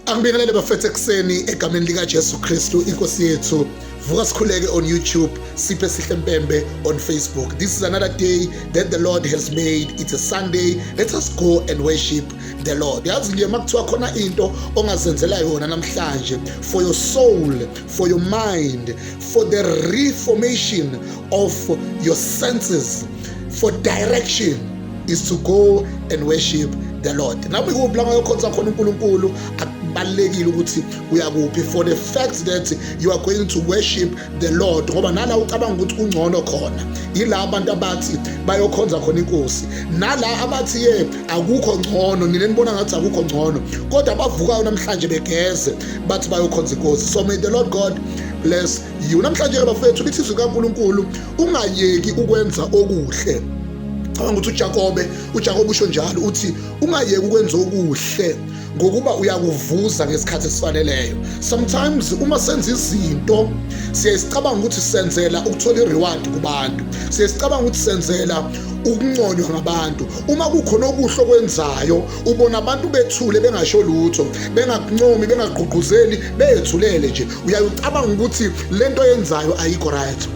Angibingelele bafethu ekuseni egameni lika Jesu Kristu inkosi yethu vuka sikhuleke on YouTube siphe sihle mpembe on Facebook this is another day that the Lord has made it's a Sunday let us go and worship the Lord yazi nje makuthiwa khona into ongazenzela yona namhlanje for your soul for your mind for the reformation of your senses for direction is to go and worship the lord nami kuphi la ngayokhonza khona unkulunkulu kubalulekile ukuthi uyakuphi for the fact that you are going to worship the lord ngoba nala ucabanga ukuthi kungcono khona yila abantu abathi bayokhonza khona inkosi nala abathi ye akukho ngcono nina nibona ngathi akukho ngcono kodwa abavukayo namhlanje begeze bathi bayokhonza inkosi so may the lord god bless you namhlanje ke bafethu lithi izwi kaNkuluNkulu ungayeki ukwenza okuhle cabanga ukuthi uJakobe uJakobe usho njalo uthi ungayeki ukwenza okuhle ngokuba uyakuvuza ngesikhathi esifaneleyo sometimes uma senza izinto siyayisicabanga ukuthi senzela ukuthola i-reward kubantu siyayisicabanga ukuthi senzela ukunconywa ngabantu uma kukhona okuhle okwenzayo ubona abantu bethule bengasho lutho bengakuncomi bengagqugquzeli beyethulele nje uyaye ucabanga ukuthi le nto yenzayo ayikho right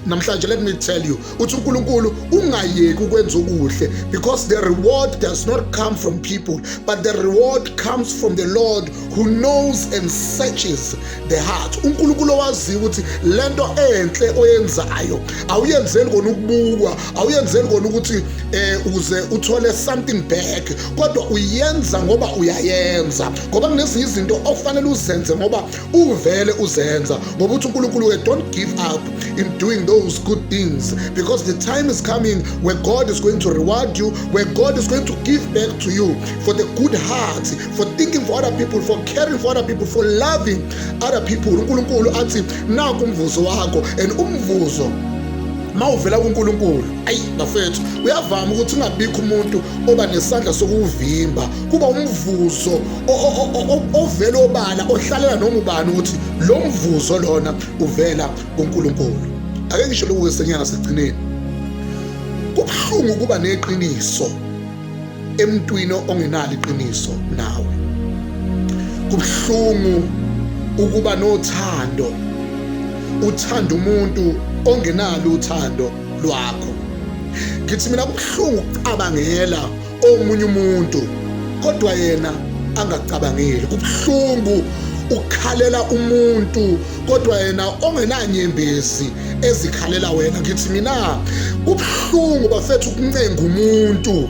namhlanje let me tell you uthi uNkulunkulu ungayeki ukwenza okuhle because the reward does not come from people but the reward comes from the Lord who knows and searches the heart uNkulunkulu owaziyo ukuthi lento enhle oyenzayo awuyenzeli kona ukubukwa awuyenzeli kona ukuthi eh uze uthole something back kodwa uyenza ngoba uyayenza ngoba kunezinye izinto okufanele uzenze ngoba uvele uzenza ngoba uthi unkulunkulu we don't give up in doing those good things because the time is coming where god is going to reward you where god is going to give back to you for the good heart for thinking for other people for caring for other people for loving other people unkulunkulu athi naku umvuzo wakho and umvuzo mawuvela kuNkulunkulu ayi bafethu uyavama ukuthi ungabikho umuntu oba nesandla sokuwuvimba kuba umvuzo ovela obala ohlalela noma ubani ukuthi lo mvuzo lona uvela kuNkulunkulu ake ngisho lokhu kwesenyanga sigcineni kubuhlungu ukuba neqiniso emntwini ongenalo iqiniso nawe kubuhlungu ukuba nothando uthanda umuntu ongenalo uthando lwakho ngithi mina kubuhlungu ukucabangela omunye umuntu kodwa yena angacabangeli kubuhlungu ukukhalela umuntu kodwa yena ongenanyembezi ezikhalela wena ngithi mina kubuhlungu bafethu ukuncenga umuntu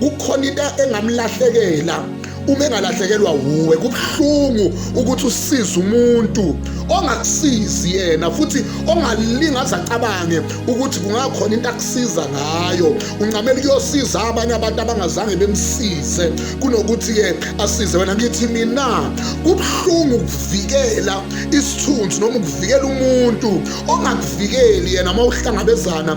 kukhona into engamlahlekela uma engalahlekelwa wuwe kubuhlungu ukuthi usize umuntu ongakusizi yena futhi ongalinga azacabange ukuthi kungakhona into akusiza ngayo uncamela kuyosiza abanye abantu abangazange bemsize kunokuthi-ke asize wena ngithi mina kubuhlungu ukuvikela isithunzi noma ukuvikela umuntu ongakuvikeli yena uma uhlangabezana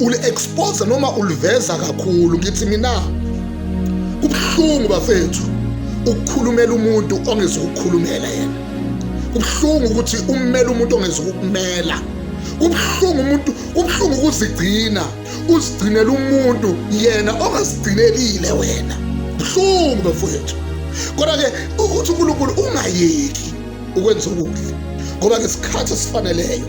uli-expose noma uliveza kakhulu ngithi mina kubuhlungu bafethu ukukhulumela umuntu ongezukukhulumela yena kubuhlungu ukuthi ummele umuntu ongezukukumela kubuhlungu umuntu kubuhlungu ukuzigcina uzigcinela umuntu yena ongazigcinelile wena buhlungu bafowethu kodwa-ke ukuthi unkulunkulu ungayeki ukwenza okuhle ngoba ngesikhathi esifaneleyo